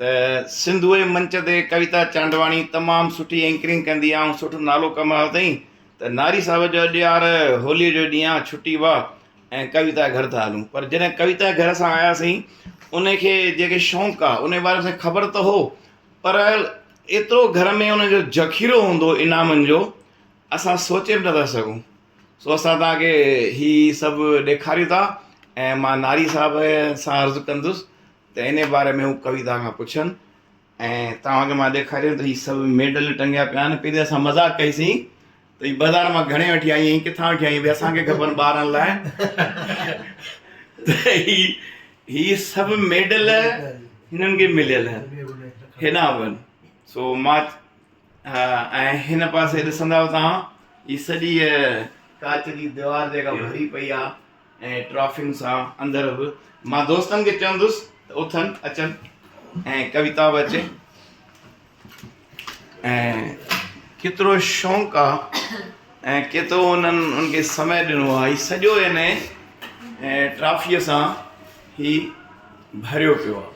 ته سنڌوء منچ تي ڪويتا چانڊواڻي تمام سٺي اينڪرنگ ڪندي آ ۽ سٺو نالو ڪمايو اٿئي ته ناري صاحب جو اڄ يار هولي جو ڏينهن آ ڇٽي وا ۽ ڪويتا گهر ٿا هلون پر جڏهن ڪويتا گهر اسان آياسين ان کي جيڪي شونق آ ان باري ۾ خبر ته هو پر ايترو گهر ۾ ان جو ذخيرو هوندو انعامن جو اسان سوچي به نٿا سگهون سو اسان توهان کي هي سڀ ڏيکاريون ٿا ۽ مان ناري صاحب سان عرض ڪندس ته انهي باري ۾ هو ڪويتا کان پڇن ۽ توهان کي مان ڏيکاريان ته هي سڀ ميڊل ٽنگيا پيا آهن پهرين اسان مذاق ڪئي سين ته هي بازار مان گهڻي وٺي آئي آهين ڪٿان وٺي آئي آهين ڀي اسان کي کپن ٻارن لاء ته هي هي سڀ ميڊل هنن کي مليل آهن هيڏانهن وڃ سو مان ها ۽ هن پاسي ڏسندؤ توهان هي سڄي ڪاچ جي ديوار جيڪا ڀري پئي آ ۽ ٽرافين سان اندر به مان دوستن کي چوندس ته اٿن اچن ۽ ڪويتا به اچي ۽ ڪيترو شوق آ ۽ ڪيترو انهن ان کي سمي ڏنو آ هي سڄو هن ٽرافيء سان هي ڀريو پيو آ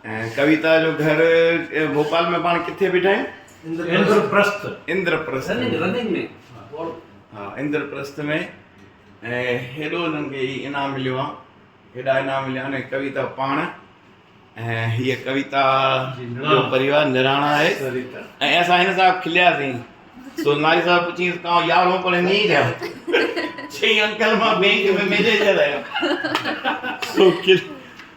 ۽ ڪويتا جو گهر ڀوپال ۾ پاڻ ڪٿي بيٺا آهن؟ اندر پرست. اندر پرست رننگ رننگ ۾ ڊوڙ. ها اندر پرست ۾ ۽ هيڏو انهن کي هي انعام مليو آهي هيڏا انعام مليا آهن ۽ ڪويتا پاڻ ۽ هيء ڪويتا جو پريوار نراڻا آهي سريتا. ۽ اسان هن صاحب کلياسين سو ناري صاحب پڇيس ڪاو يارهون پڙهي ني جا چئي انڪل مان بينڪ ۾ مينيجر آهيان سو کل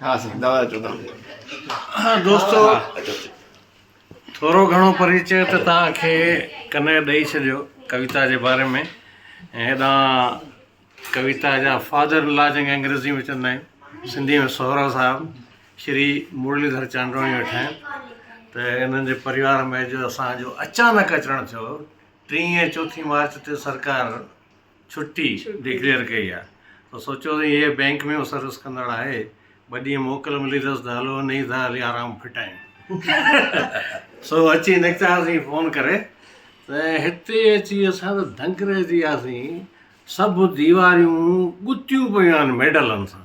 ها سائين دعوت اچو تهان دوستو ٿورو گهڻو پريچي ته تهان کي ڪنهن ڏئي ڇڏيو ڪويتا جي باري ۾ ۽ هيڏانهن ڪويتا جا فادر ان لا جنهن کي انگريزي ۾ چوندا آهيون سنڌي ۾ سهرا صاحب شري مرلي ڌر چانڊواڻي ويٺا آهن ته انهن جي پريوار ۾ جو اسان جو اچانڪ اچڻ ٿيو ٽينء ۽ چوٿين مارچ تي سرڪار ڇٽي ڊڪليئر ڪئي آ تو سوچيو ته هيء بئنڪ ۾ سروس ڪندڙ آهي ٻه ڏينهن موڪل ملي اٿس ته هلو انهي سان هلي آرام ڦٽايون سو اچي نڪتاسين فون ڪري ته هتي اچي اسان ته دنگ رهجي وياسين سڀ ديواريون ڳتيون پيون آهن ميڊلن سان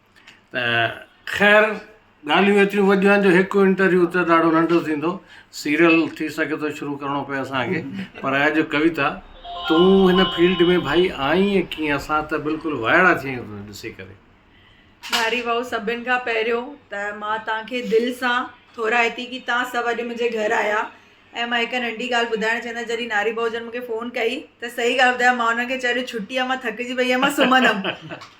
ته خير ڳالهيون ايتريون وڏيون آهن جو هڪ انٽرويو ته ڏاڍو ننڍو ٿيندو سيريل ٿي سگهي ٿو شروع ڪرڻو پئي اسانکي پر اڄ ڪويتا تون هن فيلڊ ۾ ڀائي آئين ڪيئن اسان ته بلڪل وائڙا ٿي ويا آهيون ڏسي ڪري ڌاري ڀائو سڀن کان پهريون ته مان تانکي دل سان ٿورائتي ڪي تان سڀ اڄ منهنجي گهر آيا ۽ مان هڪ ننڍي ڳالهه ٻڌائڻ چهندس جڏهن ناري بهوجن مونکي فون ڪئي ته صحيح ڳالهه ٻڌايو مان انهن کي چيو اڄ ڇٽي آهي مان ٿڪجي پئي آهيان مان سمهندم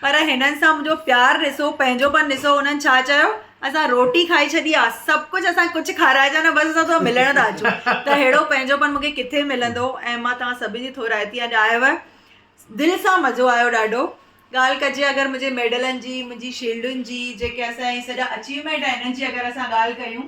پر هنن سان منهنجو پيار ڏسو پنهنجوپن ڏسو هنن ڇا چيو اسان روٽي کائي ڇڏي آهي سڀ ڪجهه اسان کي ڪجهه کارائجان نه بس اسان توهان ملڻ ٿا اچون ته اهڙو پنهنجوپن مونکي ڪٿي ملندو ۽ مان توهان سڀني جي ٿورائتي اڄ آيو آهي دل سان مزو آيو ڏاڍو ڳالهه ڪجي اگر منهنجي ميڊلن جي منهنجي شيلڊن جي جيڪي اسان جي سڄا اچيومينٽ آهن هنن جي اگر اسان ڳالهه ڪيون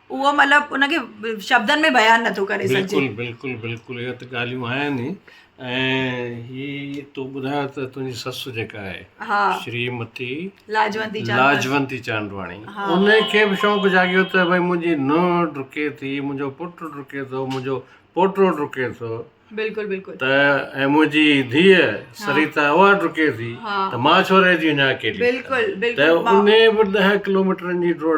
اهو مطلب ان کي شبدن ۾ بيان نٿو ڪري سگهجي بلڪل بلڪل بلڪل اهي ته ڳالهيون آهن ئي ۽ هي تو ٻڌايو ته تنهنجي سس جيڪا آهي ها شري متي لاجوندي چانڊ لاجوندي چانڊواڻي ها. ان کي به شوق جاڳيو ته ڀائی منهنجي نونهن ڊڪي ٿي منهنجو پٽ ڊڪي ٿو منهنجو پوٽو ڊڪي ٿو بلڪل بلڪل ته ۽ منهنجي ڌيء سريتا اها ڊڪي ٿي ها. ته مان ڇو رهجي وڃان اڪيلي بلڪل ته بلڪل ان به ڏهه ڪلوميٽرن جي ڊوڙ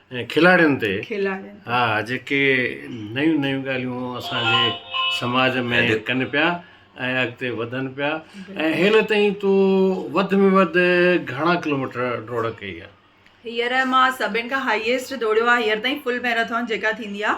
۽ کلاڙين تي ها جيڪي نيون نيون ڳالهيون اسان جي سماج ۾ ڪن پيا ۽ اڳتي وڌن پيا ۽ هيل تائين تو وڌ ۾ وڌ گهڻا ڪلوميٽر ڊوڙ ڪئي آهي هيئر مان سڀن کان هائيسٽ ڊوڙيو آهي هيئر تائين فل ميراٿون جيڪا ٿيندي آهي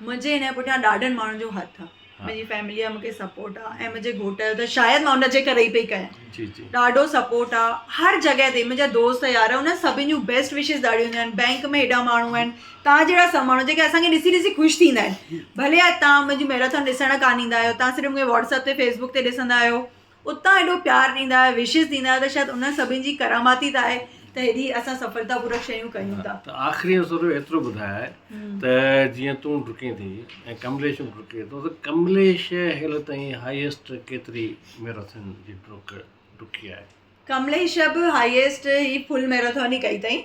منهنجي هن پٺيان ڏاڍن ماڻهن جو هٿ آ منهنجي فيملي جا مونکي سپورٽ آ ۽ منهنجي گهوٽ جو ته شايد مان ان جي ڪري ئي پئي ڪيان ڏاڍو سپورٽ آ هر جڳهه تي منهنجا دوست يار انهن سڀن جون بيسٽ وشز ڏاڍيون هونديون آهن بينڪ ۾ هيڏا ماڻهو آهن تان جهڙا سڀ ماڻهو جيڪي اسانکي ڏسي ڏسي خوش ٿيندا آهن ڀلي تان منهنجي ميرٿان ڏسڻ ڪان ايندا آهيو تان صرف مونکي واٽسپ تي فيسبوڪ تي ڏسندا آهيو اتان ايڏو پيار ڏيندا آهيو وشز ڏيندا آهيو ته شايد انهن سڀني جي ڪرامات ئي ته آهي ته هيڏي اسان سڦلتا پورڪ شيون ڪيون ٿا ته آخري ۾ سوريو ايترو ٻڌاء ته جيئن تون ڊڪين ٿي ۽ ڪمليش به ڊڪي ٿو ته ڪمليش هيل تائين هائيسٽ ڪيتري ميراٿن جي ڊڪ ڊڪي آهي ڪمليش به هائيسٽ هي فل ميراٿن ئي ڪئي اٿائين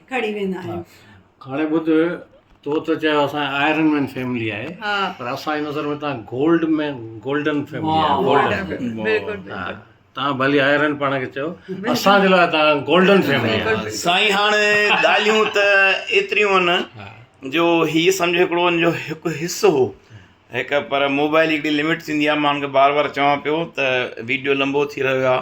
کڻي ويندا آهيون. هاڻي ٻڌ تو ته چيو اسان جي آئرن مين فيملي آهي پر اسان جي نظر ۾ تان گولڊ مين گولڊن فيملي آهي گولڊن بلڪل بلڪل تان ڀلي آئرن پاڻ کي چيو اسان جي لاء تان گولڊن فيملي آهي سائين هاڻي ڳالهيون ته ايتريون آهن جو هي سمجهه هڪڙو ان جو هڪ حصو هو هڪ پر موبائل جي هڪڙي لمٽ ٿيندي آهي ماڻهن کي بار بار چوان پيو ته ويڊيو لمبو ٿي رهيو آهي